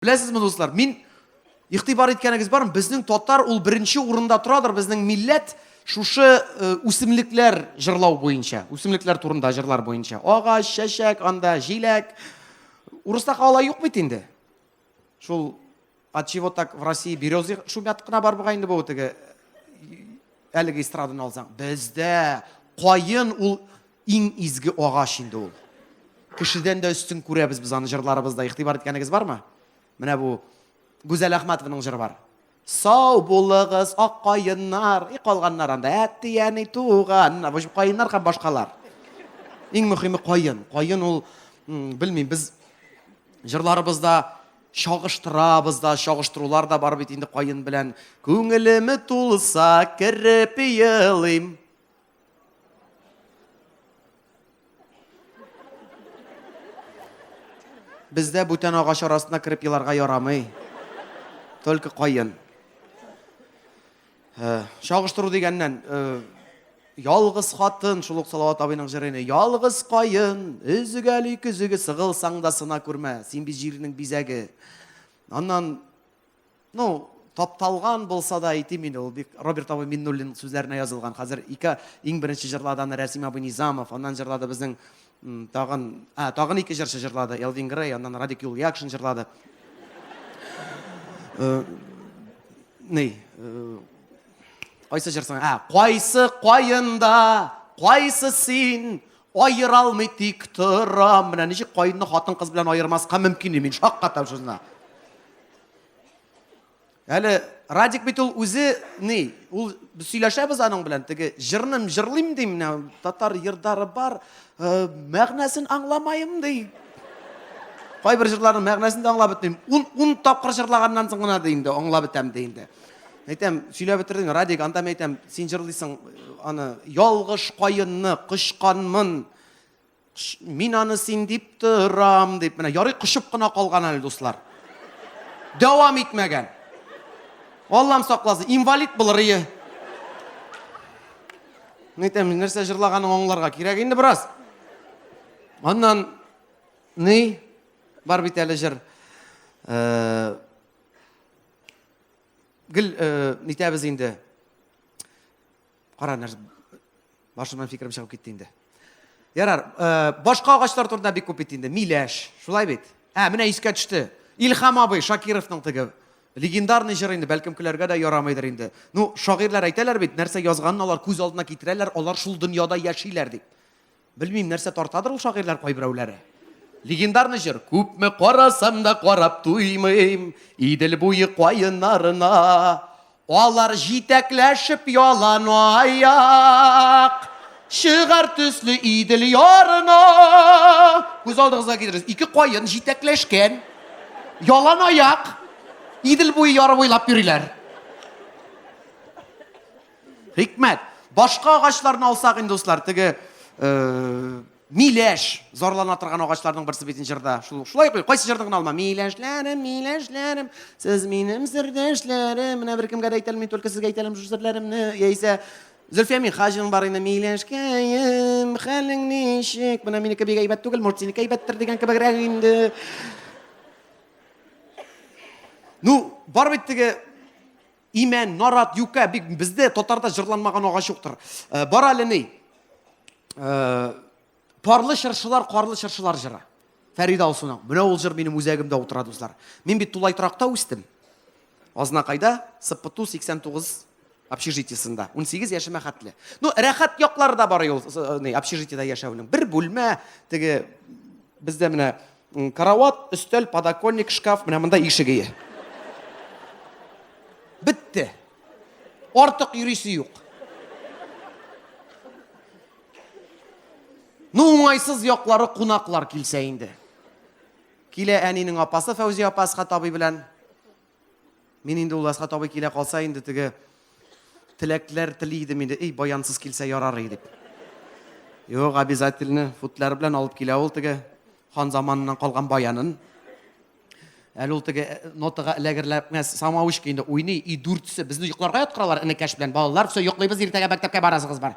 Беләсезме, дуслар, мин игътибар иткәнегез бармы? Безнең татар ул беренче урында торадыр, безнең милләт шушы э, үсемлекләр җырлау буенча, үсемлекләр турында җырлар буенча. Агач, чәчәк, анда җиләк. Урыста кала юк бит инде. Шул от чего так в России березы шумят кына бар бугай инде бу теге әлеге эстраданы алсаң. Бездә кайын ул Иң изге агач инде ул. Кешедән дә өстен күрәбез без аны җырларыбызда. Игътибар иткәнегез бармы? Менә бу Гүзәл Әхмәтованың җыры бар. Сау булыгыз, ак каеннар, и калганнар анда, әти, әни, туган, бу җип каеннар һәм башкалар. Иң мөһиме каен. Каен ул, белмим, без җырларыбызда чагыштырабыз да, чагыштырулар да бар бит инде каен белән. Күңелеме тулса, кереп елыйм. Бездә бүтән агач арасына кереп еларга ярамый. Только каен. Э, Чагыштыру дигәннән, э, ялгыз хатын, шул ук Салават абыйның җырыны, ялгыз каен, өзгәли көзеге, сыгылсаң да сына күрмә, син бит җирнең бизәге. Аннан Ну, тапталган булса да әйтим инде, ул бик Роберт абый Миннуллин сүзләренә язылган. Хәзер ике иң беренче җырладаны Рәсим абый Низамов, аннан җырлады безнең тагын, а, тагын ике җырчы җырлады, Элвин Грей, аннан Радик Юльякшин җырлады. Э, ни, э, кайсы җырсың? А, кайсы кайында, кайсы син? Айыра алмый тик торам. Менә ничек кайынны хатын-кыз белән аермаска мөмкин, мин шаккатам шунда. Әле Радик бит ул үзе ни, ул сөйләшәбез аның белән, теге җырным җырлыйм ди менә, татар йырдары бар, э, мәгънәсен аңламаем ди. Кайбер җырларның мәгънәсен дә аңлап бетмим. 10 10 тапкыр җырлаганнан соң гына ди инде аңлап бетәм ди инде. Әйтәм, сөйләп бетердең, Радик, анда әйтәм, син җырлыйсың э, аны ялгыш каенны кочканмын. Мин аны син дип торам, дип. Менә ярый кочып кына калган әле, дуслар. Дәвам итмәгән. Аллам сакласы, инвалид булыр ие. Нитәм, нәрсә җырлаганын аңларга кирәк инде бераз. Аннан ни бар бит әле җыр. Э, гел э, нитәбез инде. Кара, нәрсә башымнан фикерем чыгып китте инде. Ярар, э, башка агачлар турында бик күп бит инде. Миләш, шулай бит. Ә, менә искә төште. Илхам абый Шакировның теге легендарный җыр инде, бәлкем көләргә дә ярамыйдыр инде. Ну, шагыйрьләр әйтәләр бит, нәрсә язганын алар күз алдына китерәләр, алар шул дөньяда яшиләр дип. Белмим, нәрсә тартадыр ул шагыйрьләр кайберәүләре. Легендарный җыр. Күпме карасам да карап туймыйм, Идел буе каеннарына. Алар җитәкләшеп ялан аяк, Чыгар төсле Идел ярына. Күз алдыгызга китерегез, ике каен җитәкләшкән, ялан аяк, Идел буе яры буйлап йөриләр. Хикмәт. Башка агачларны алсак инде, дуслар, теге э, миләш зарлана торган агачларның берсе бит җырда. Шул шулай куй, кайсы җырны гына алма. Миләшләрем, миләшләрем, сез минем сердәшләрем. Менә бер кемгә дә әйтәлмим, мин только сезгә әйтәлмим шул серләремне. Яисә Зөлфия Михаҗин бар инде, миләшкәем, хәлең ничек? Менә минеке бик әйбәт түгел, Муртинеке әйбәттер дигән кебегрәк инде. Ну, бар бит теге Имән, нарат, юкә, бик бездә татарда җырланмаган агач юктыр. Э, бар әле ни. Э, парлы чыршылар, карлы чыршылар җыры. Фәрида Алсуның. Менә ул җыр минем үзәгемдә утыра, дуслар. Мин бит тулай торакта үстем. Азнакайда, Сыппыту 89 общежитиесында. 18 яшемә хәтле. Ну, рәхәт яклары да бар ул, э, ни, общежитиедә яшәүнең. Бер бүлмә, теге бездә менә Карават, өстәл, подоконник, шкаф, менә монда ишек ие. Бетте. Артык йөрисе юк. Ну, уңайсыз яклары кунаклар килсә инде. Килә әнинең апасы Фәүзия апа Асхат абый белән. Мин инде ул Асхат абый килә калса инде теге теләкләр тели идем инде, эй, баянсыз килсә ярар иде дип. Юк, обязательно футлар белән алып килә ул теге хан заманыннан калган баянын. Әле ул теге э, нотага эләгерләпмәс самаучка инде уйный, и дүртсе. Безне йокларга яткыралар энекәш белән. Балалар, все, йоклыйбыз, иртәгә мәктәпкә барасыгыз бар.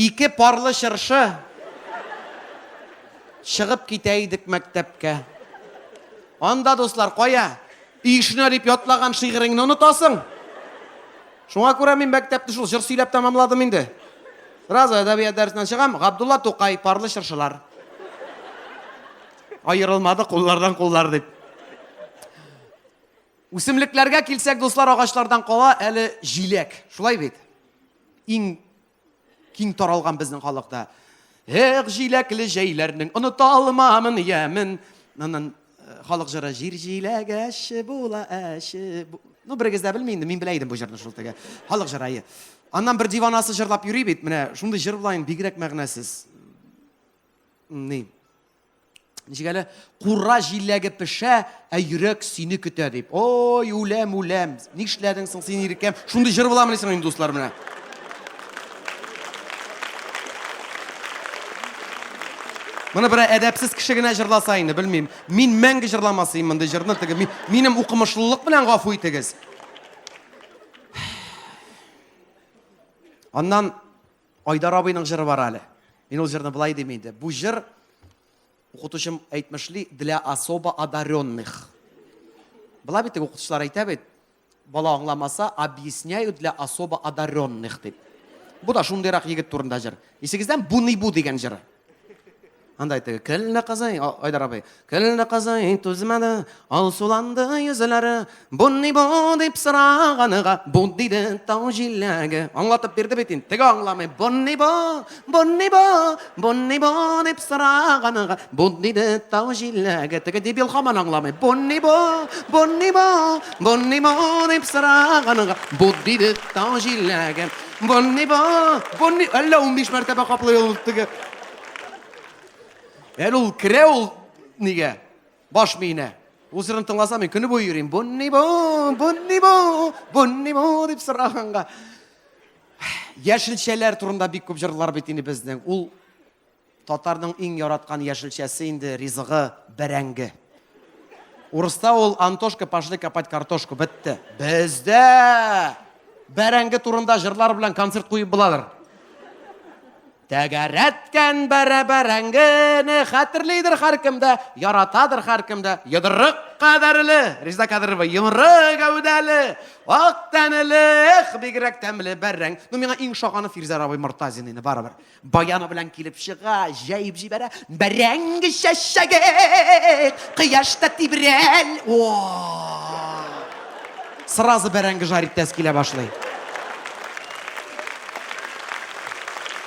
Ике парлы чыршы чыгып китә идек мәктәпкә. Анда дуслар кая? Ишнә дип ятлаган шигыреңне онытасың. Шуңа күрә мин мәктәпне шул җыр сөйләп тәмамладым инде. Сразу әдәбият дәресеннән чыгам, Габдулла Тукай, парлы чыршылар. Аерылмады куллардан куллар дип. Үсемлекләргә килсәк, дуслар, агачлардан кала әле җиләк. Шулай бит? Иң киң таралган безнең халыкта. Эх, җиләкле җәйләрнең оныта алмамын ямен. Аннан э, халык җыры җир җиләге әче була, әче. Ну, берегез дә белми инде, мин белә идем бу җырны шул теге. Халык җыры. Аннан бер диванасы җырлап йөри бит, менә шундый җыр белән бигрәк мәгънәсез. Ни? ничек әле кура җиләге пешә ә йөрәк сине көтә дип ой үләм үләм нишләдең соң син иркәм шундый җыр буламыни соң инде дуслар менә Моны бер әдәпсез кеше генә җырласа инде, белмим. Мин мәңге җырламасыйм мондый җырны, теге минем укымышлылык белән гафу итегез. Аннан Айдар абыйның җыры бар әле. Мин ул җырны болай дим инде. Бу җыр укытучым әйтмешли для особо одаренных. Була бит укытучылар әйтә бит, бала аңламаса, объясняю для особо одаренных дип. Бу да шундыйрак егет турында җыр. Исегездән бу не бу дигән җыры. Анда әйтте, кәллә казый, Айдар абый, кәллә казый түзмәде, алсуланды йөзләре, бу ни бу дип сораганыга, бу диде тау җиләге. Аңлатып бирде бит инде, теге аңламый, бу ни бу, бу ни бу, бу ни бу дип сораганыга, бу диде тау җиләге. Теге дебил хаман аңламый, бу ни бу, бу ни бу, бу ни бу дип сораганыга, бу диде тау җиләге. Бу ни бу, бу ни, әллә 15 мәртәбә каплый ул теге Әле ул керә ул нигә? Баш миенә. Ул җырын тыңласам, мин көне буе йөрим. Боннибо, боннибо, боннибо дип сораганга. Яшелчәләр турында бик күп җырлар бит инде безнең. Ул татарның иң яраткан яшелчәсе инде ризыгы бәрәңге. Урыста ул Антошка пошли копать картошку бетте. Бездә бәрәңге турында җырлар белән концерт куеп буладыр. Тәгәрәткән бәрә бәрәңгене хәтерлидер һәркем дә, яратадыр һәркем дә. Йодрык кадәрле, Резеда Кадырова, йомры гәүдәле, ак тәнеле, эх, бигрәк тәмле бәрәң. Ну, миңа иң шаганы Фирзәр абый Мортазин инде, барыбер. Баяны белән килеп чыга, җәеп җибәрә. Бәрәңг чәчәге, кояшта тибрәл. О! Сразу бәрәңге жарить итәсе килә башлый.